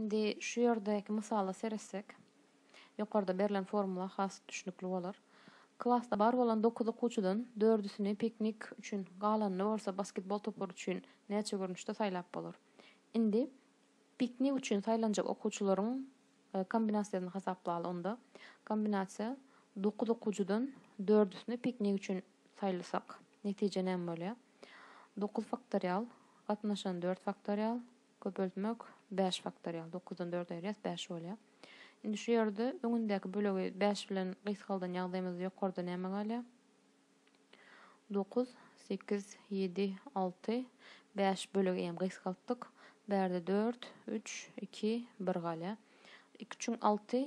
Indi şu ýerdäki mysala seretsek, ýokarda berlen formula has düşnükli bolar. Klasda bar bolan dokuz okuwçydan dördüsini piknik üçin, galanyny bolsa basketbol topary üçin näçe görnüşde saýlap bolar? Indi piknik üçin saýlanjak okuwçylaryň kombinasiýasyny hasaplaly onda. Kombinasiýa, dokuz okuwcydan dördüsini piknik üçin saýlasak netije näme bolýar? Dokuz faktorial gatnaşan dört faktorial. Köpeltmek bäş faktorial, dokuzdan dördi aýyrýas, bäş bolýar. Indi şu ýerde öňündäki bölegi bäş bilen gysgaldan ýagdaýymyzda ýokarda näme galýar? Dokuz, sekiz, ýedi, alty, bäş bölegi hem gysgaltdyk. Bärde dört, üç, iki, bir galýar. Iki üçin alty,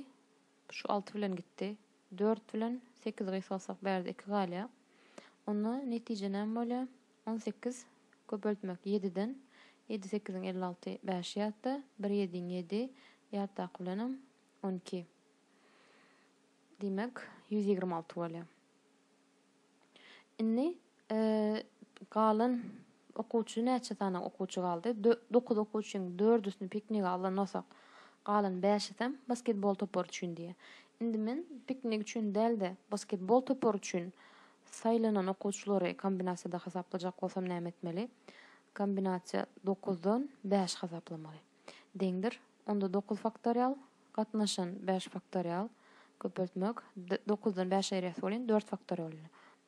şu alty bilen gitdi. Dört bilen sekiz gysgalsak bärde iki galýar. Onda netije näme bolýar? On sekiz, köpeltmek, ýediden, ýedi sekiziň elli alty, bäş ýatda, bir ýediň ýedi, ýatdaky bilenem on iki. Diýmek, ýüz ýigrimi alty bolýar. Indi galan okuwçy näçe sany okuwçy galdy? Dokuz okuwçyň dördüsini piknige alan bolsak, galan bäşisem basketbol topary üçin diýýär. Indi men piknik üçin däl-de, basketbol topary üçin Saýlanan okuwçylary kombinasiýada hasaplajak bolsam näme etmeli? Kombinasiýa dokuzdan bäş hasaplamaly. Deňdir. Onda dokuz faktorial gatnaşan bäş faktorial köpeltmek dokuzdan bäş aýyrýas welin dört faktorial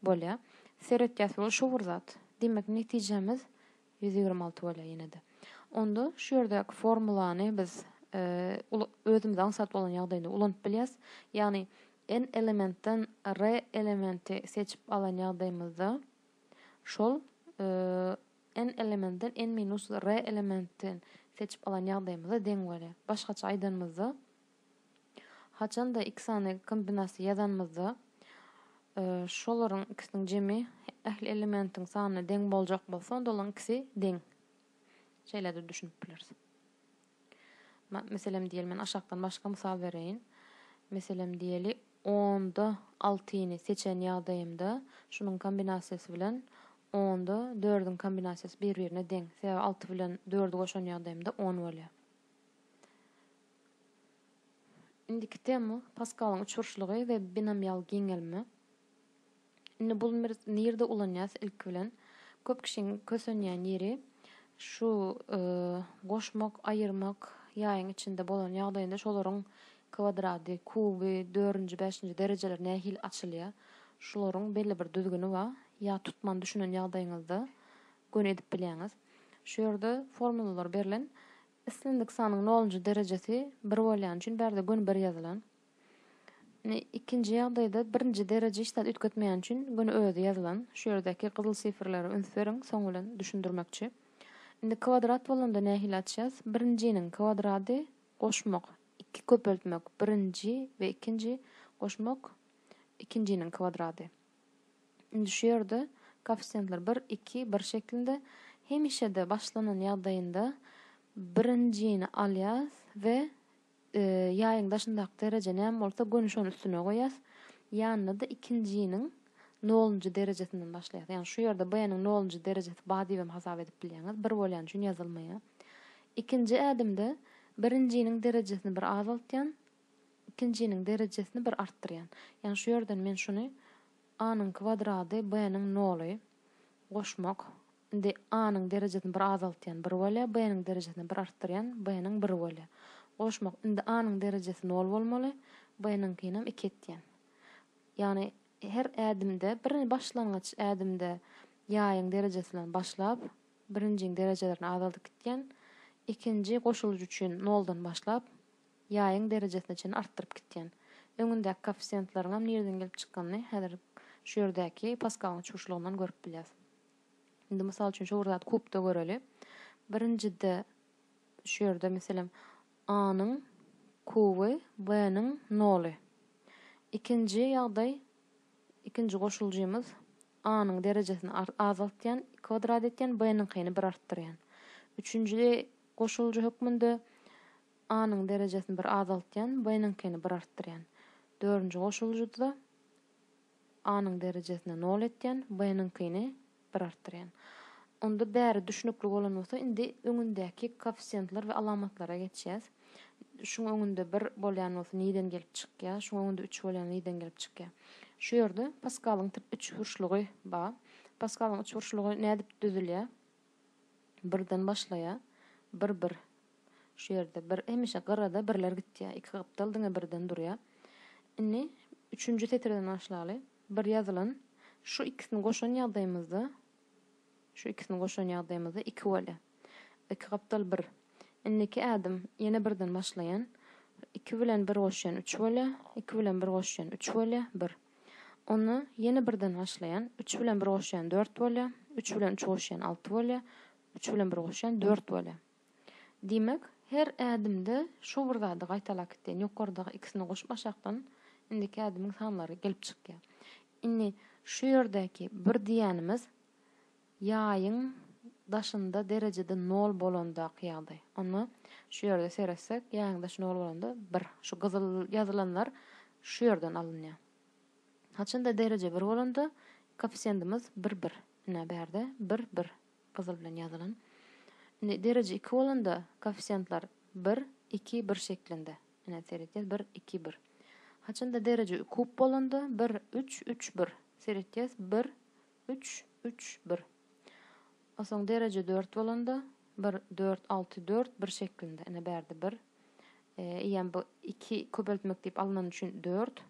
bolýar. Seretýäs ol şu bir zat. Diýmek netijemiz Ýüz ýigrimi alty bolýar ýene-de. Onda şu ýerdäki formulany biz özümiz aňsat bolan ýagdaýynda ulanyp bilýäs. Ýagny n elementden r elementi seçip alan ýagdaýymyzda şol n elementden n minus r elementi seçip alan ýagdaýymyza deň bolýar. Başgaça aýdanymyzda. Haçanda iki sany kombinasiýa ýazanymyzda, şolaryň ikisiniň jemi ähli elementiň sanyna deň boljak bolsa, onda olaryň ikisi deň. Şeýle-de düşünip bileris. Meselem, diýeli, men aşakdan başga mysal bereýin. Meselem, diýeli, onda altyny seçen ýagdaýymda, şunuň kombinasiýasy bilen onda dördüň kombinasiýasy bir-birine deň. Sebäbi alty bilen dördi goşan ýagdaýymda on bolýar. Indiki tema Paskalyň uçuryşlygy we binomial giňelme. Indi bul nirde ulanýas ilki bilen? Köp kişiň kösenýän ýeri şu e, goşmak, aýyrmak ýaýyň içinde bolan ýagdaýynda şolaryň kwadrady, kuby, dördünji, bäşinji derejeleri nähili açylýar? Şularyň belli bir düzgüni bar. Ýa tutman düşünen ýagdaýyňyzda göni edip bilýäňiz. Şu ýerde formulalar berlen. Islendik sanyň nolunjy derejesi bir bolýany üçin bärde göni bir ýazylan. Indi ikinji ýagdaýda birinji dereje hiç zat üýtgetmeýäni üçin göni özi ýazylan. Şu ýerdäki gyzyl sifrlere üns beriň, soň bilen düşündirmekçi. Indi kwadrat bolanda nähili açýas? Birinjiniň kwadrady goşmak, iki köpeltmek, birinji we ikinji, goşmak, ikinjiniň kwadrady. Indi şu ýerde koeffisiýentler bir, iki, bir şeklinde. Hemişe-de başlanan ýagdaýynda birinjini alýas we ýaýyň daşyndaky dereje näme bolsa göni şony üstüne goýýas. Ýanyna-da ikinjiniň nolunjy derejesinden başlaýas. Ýagny şu ýerde B-niň nolunjy derejesi bar diýibem hasap edip bilýäňiz. Bir bolýany üçin ýazylmaýar. Ikinji ädimde birinjiniň derejesini bir azaltýan, ikinjiniň derejesini bir artdyrýan. Ýagny şu ýerden men şuny A-nyň kwadrady B-niň noly goşmak. Indi A-nyň derejesini bir azaltýan, bir bolýar, B-niň derejesini bir artdyrýan, B-niň bir bolýar. Goşmak. Indi A-nyň derejesi nol bolmaly, B-niňkinem iki etýän. Ýagny her ädimde, bir başlangyç ädimde ýaýyň derejesi bilen başlap, birinjiň derejelerini azaldyp gitýän, ikinji goşulyjy üçin noldan başlap, Jaýyň derejesini çenli artdyryp gitýän. Öňündäki koeffisiýentlaryňam nireden gelip çykanyny häzir şu ýerdäki paskalyň çuşlugyndan görüp bilýäs. Indi mysal üçin şo bir zady kubda göreli. Birinjide şu ýerde meselem A-nyň kuby, B-niň noly. Ikinji ýagdaý, ikinji goşuljymyz A-nyň derejesini azaltýan, kwadrat etýän, B-niňkini bir artdyrýan. Üçünji goşuljy hökmünde A-nyň derejesini bir azaltýan, B-niňkini bir artdyrýan. Dördünji goşulyjyda A-nyň derejesini nol etýän, B-niňkini bir artdyrýan. Onda bäri düşnükli bolan bolsa, indi öňündäki koeffisiýentler we alamatlara geçýäs. Şuň öňünde bir bolýan bolsa niden gelip çykýar? Şuň öňünde üç bolýan niden gelip çykýar? Şu ýerde Paskalyň üçburçlugy bar. Paskalyň üçburçlugy nädip düzülýär? Birden başlaýa bir bir şu ýerde bir hemişe gyrada birler gitýä iki gapdal diňe birden durýa. Indi üçünji setirden başlaly bir ýazylan şu ikisini goşan ýagdaýymyzda şu ikisini goşan ýagdaýymyzda iki bolýa iki gapdal bir indiki ädim ýene birden başlaýan iki bilen bir goşýan üç bolýa iki bilen bir goşýan üç bolýa bir. Onda ýene birden başlaýan, üç bilen bir goşýan dört bolýar, üç bilen üç goşýan alty bolýar, üç bilen bir goşýan dört bolýar. Diýmek, her ädimde şu bir zady gaýtalap gitýän, ýokardaky ikisini goşup aşakdan indiki ädimiň sanlary gelip çykýar. Indi şu ýerdäki bir diýýänimiz Ýaýyň daşynda derejede nol bolandaky ýagdaý. Onda şu ýerde seretsek, ýaýyň daşy nol bolanda bir. Şu gyzyl ýazylanlar şu ýerden alynýar. Haçanda dereje bir bolanda koeffisiýendimiz bir, bir. Ine, bärde bir, bir gyzyl bilen ýazylan. Indi dereje iki bolanda koeffisiýentler bir, iki, bir şeklinde. Ine, seretýäs, bir, iki, bir. Haçanda dereje kub bolanda bir, üç, üç, bir. Seretýäs, bir, Üç, üç, bir. Osoň dereje dört bolanda, bir, dört, alty, dört, bir şeklinde. Ine, bärde bir. Eýýäm bu iki köpeltmek diýip alnany üçin dört.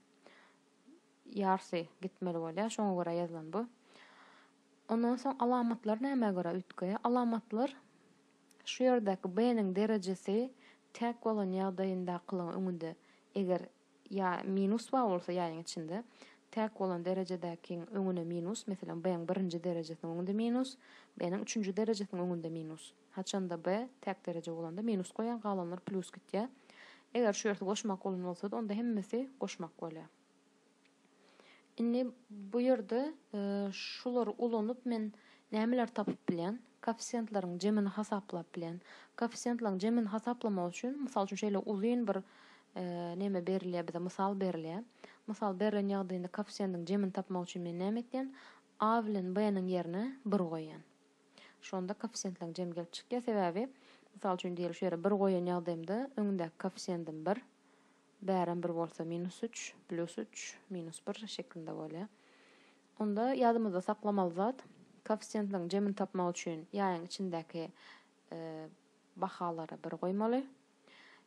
Ýarsy gitmeli bolýar, şoňa görä ýazylan bu. Ondan soň alamatlar nämä görä üýtge? Alamatlar şu ýerdäki b-niň derejesi täk bolan ýagdaýyndakylygyň öňünde eger ýa minus bar bolsa ýaýyň içinde, täk bolan derejedäkiň öňüne minus, meselem, B-iň birinji derejesiniň öňünde minus, B-niň üçünji derejesiniň öňünde minus. Haçanda B täk dereje bolanda minus goýaň, galanlar plýus gitýär. Eger şu ýersi goşmak bolan bolsady, onda hemmesi goşmak bolýar. Indi bu ýerde şulary ulanyp men nämeleri tapyp bilýän? Koeffisiýentleriň jemini hasaplap bilýän. Koeffisiýentleriň jemini hasaplamak üçin, mysal üçin, şeýle uzyn bir neme berilýär bize, mysal berilýär. Mysal berlen ýagdaýynda koeffisiýentiň jemini tapmak üçin men näme etýän? A bilen B-niň ýerine bir goýýan. Şonda koeffisiýentleriň jemi gelip çykýar. Sebäbi, mysal üçin, diýeli şu ýere bir goýan ýagdaýymda öňündäki koeffisiýentim bir, Bärem bir bolsa minus üç, plýus üç, minus bir şeklinde bolýar. Onda ýadymyzda saklamaly zat, koeffisiýentleriň jemini tapmak üçin ýaýyň içindäki bahalary bir goýmaly.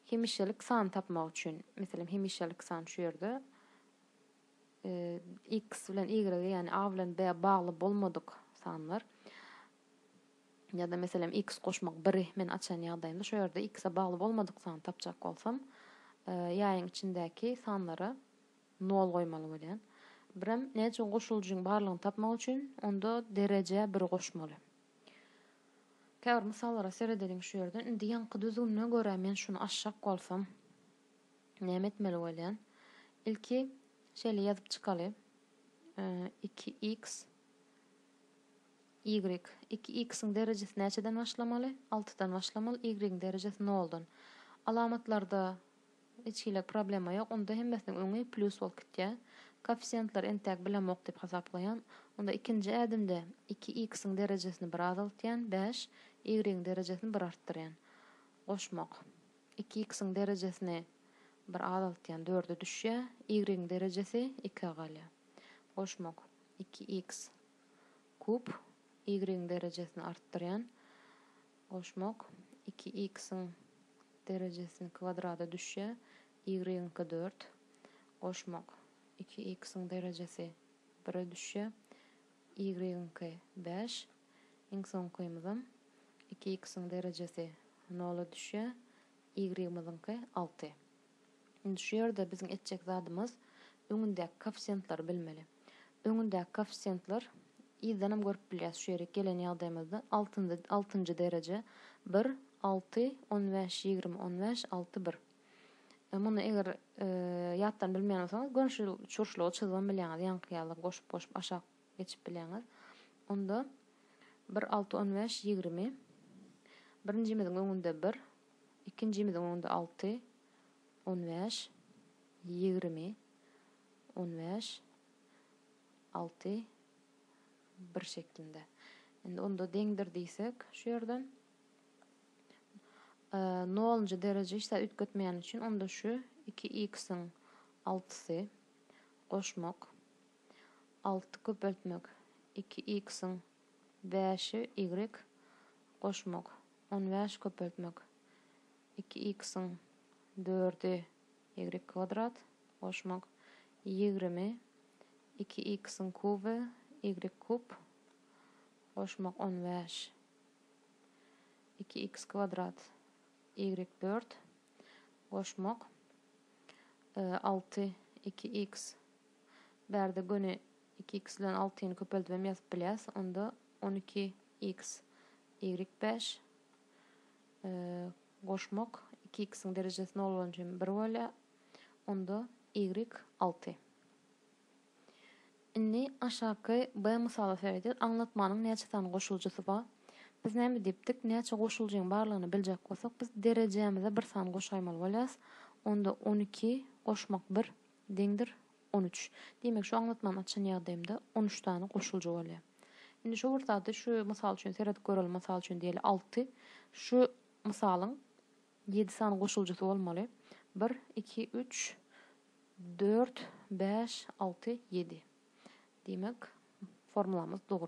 Hemişelik sany tapmak üçin, meselem, hemişelik san şu ýerde x bilen y, ýagny a bilen b bagly bolmadyk sanlar. Ýa-da meselem x goşmak biri men açan ýagdaýymda şu ýerde x-e bagly bolmadyk sany tapjak bolsam, ýaýyň içindäki sanlara nol goýmaly bolýan. Birem näçe goşulyjyň barlygyny tapmak üçin onda derejä biri goşmaly. Käbir mysallara seredeliň şu ýerden. Indi ýaňky düzgünine görä men şuny açjak bolsam näme etmeli bolýan? Ilki şeýle ýazyp çykaly. 2x Y, Iki x-iň derejesi näçeden başlamaly? Altydan başlamaly, y-iň derejesi noldan. Alamatlarda hiç hili problema ýok, onda hemmesiniň öňi plýus bolup gitýär. Koeffisiýentleri entäk bilemok diýip hasaplaýan. Onda ikinji ädimde iki x-iň derejesini bir azaltýan, bäş, y-iň derejesini bir artdyrýan. Goşmak. Iki x-iň derejesini bir azaltýan, dörde düşýär, y-iň derejesi ikige galýar. Goşmak. Iki x. Kub, y-iň derejesini artdyrýan goşmak, iki x-iň derejesini kwadrada düşýär, y-iňki dört, goşmak, iki x-iň derejesi bire düşýär, y-iňki bäş, iň soňkymyzam, iki x-iň derejesi nola düşýär, y-myzyňky alty. Indi şu ýerde biziň etjek zadymyz öňündäki koeffisiýentleri bilmeli. Öňündäki koeffisiýentler yzdanam görüp bilýäs şu ýerik gelen ýagdaýymyzda altynjy altynjy dereje bir alty on bäş ýigrimi on bäş alty bir muny eger ýatdan bilmeýän bolsaňyz görnüşi çurçluga çyzybam bilýäňiz ýaňky ýaly goşup goşup aşak geçip bilýäňiz onda bir alty on bäş ýigrimi birinjimiziň öňünde bir Ikinjimiziň onda alty, on bäş, ýigrimi, on bäş, alty, bir şeklinde. Indi onda deňdir diýsek şu ýerden. Nolunjy dereje hiç zat üýtgetmeýän üçin onda şu iki x-iň altysy goşmak, alty köpeltmek, iki x-iň bäşi, y, goşmak. On bäş köpeltmek iki x-iň dördi y kwadrat goşmak ýigrimi iki x-iň kuby y kub goşmak on bäş iki x kwadrat y dört goşmak alty iki x bärde göni iki x bilen altyny köpeldibem ýazyp bilýäs onda on iki x Ýigrik bäş. Goşmak, iki iksiň derejesi nol bolança hem bir bolýar. Onda ýigrik alty. Indi aşaky B mysaly seredýäs. Aňlatmanyň näçe sany goşuljysy bar? Biz näme diýipdik? Näçe goşuljyň barlygyny biljek bolsak, biz derejämize bir san goşaýmaly bolýarys. Onda on iki goşmak bir, Deňdir, on üç. Diýmek, şu aňlatmany açan ýagdaýymda on üç sany goşulja bolýar. Indi şu bir zady şu mysal üçin seredip göreliň, mysal üçin diýeli, alty. Şu mysalyň ýedi sany goşuljysy bolmaly. Bir, iki, üç, dört, bäş, alty, ýedi. Diýmek, formulamyz dogry.